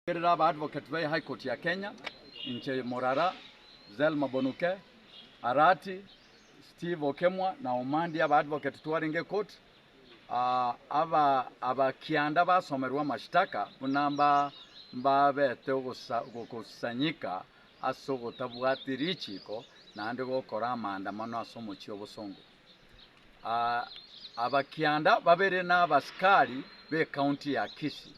Gotegerera aba advocate be High Court ya Kenya, inche Morara, Zelma Bonuke, Arati, Steve Okemwa na Omandi aba advocate twarenge ekoti, aba aba kianda basomerwe amashitaka buna mbabete ogosanyika ase ogotabwati richiiko naende gokora amaandamano ase omochie obosongo. abakianda babere n'abasikari b'ekaunti ya Kisii,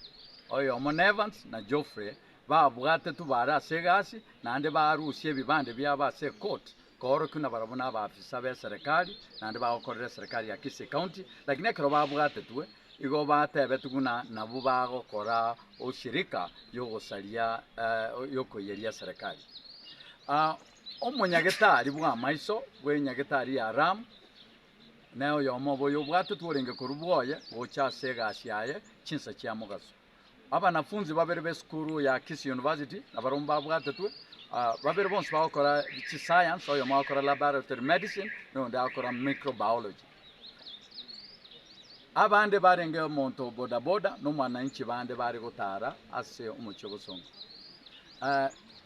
oyomo n'Evans na Geoffrey, babwatetwe baare ase egasi naende baarusia ebibande biabo ase ekoti koorokigwa nabarabwo nabaafisa b'eserekari naende bagokorera eserekari ya Kisii County, lakini ekero babwatetwe igo batebetigwe ng'a nabwo bagokora oshirika y'ogosaria yokoiyeria eserekari. Omonyagetari bw'amaiso bw'enyagetari ya Ram, na oyomo obo oyobwate tworenge korwa bwoye gocha ase egasi yaye chinsa chia mogaso. Abanafunzi babere b'esukuru ya Kisii University nabarabwo mbabwatetwe, babere bonsi bagokora chiscience, oyomo agakora laboratory medicine, na oyonde agakora microbiology. Abande barenge omonto o bodaboda na omwananchi bande bare gotara ase omochie ogosonga.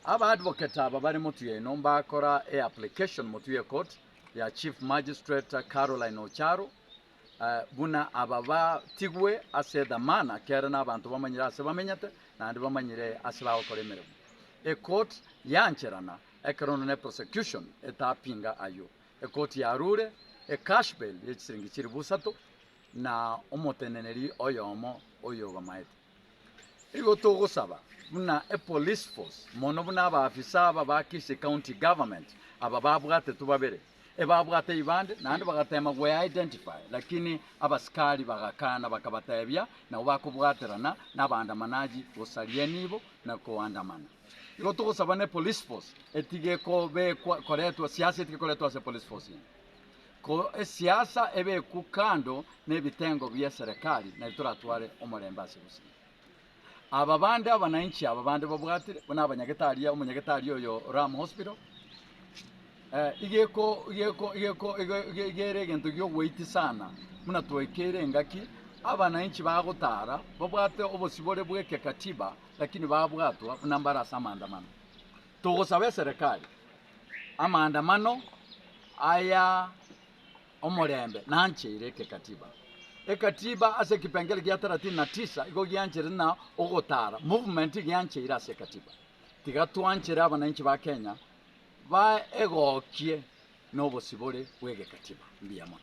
Aba advocate aba bare Motuyeno mbakora e application Motuye Court ya Chief Magistrate Caroline Ocharo buna aba batigwe ase dhamana ekiagera nabanto bamanyire ase bamenyete naende bamanyire ase bagokora emeremo. E court yancherana ekero onde ne prosecution etapinga ayio. Ekoti ya Arure, ekashbel ye chisiringi chiri busato, na omoteneneri oyomo oyogomaete. Igo togosaba buna epolice force mono buna abaafisa aba ba Kisii County Government aba babwatetwe babere ebabwate ibande naende bagateema gwe identify lakini abasikari bagakana bakabateebia nabo bakobwaterana nabaandamanaji gosaria nibo na koandamana. Igo togosaba ne Polysphos etige kobekwa koretwa siasa etige koretwa ase Polysphos ime. Ko esiasa ebekwu kando nebitengo bie serekari nario toratware omorembe ase gusibwa. Aba bande abanainchi aba bande babwatire buna abanyagete aria omonyagete aria oyo Ram Hospital eh, igeko igeko igeko igere egento giogweiti sana buna twaikeire engaki abanainchi bagotara babwate obosibore bweke katiba lakini babwatwa buna mbare ase amaandamano. Togosaba eserekari amaandamano aya omorembe nancheire ekekatiba. Ekatiba ase ekepengele gia thelathini na tisa igo gianchere na ogotara movement giancheire ase ekatiba. Tiga twanchere abananchi ba Kenya baegokie nobosibore bw'egekatiba. Mbuya mono.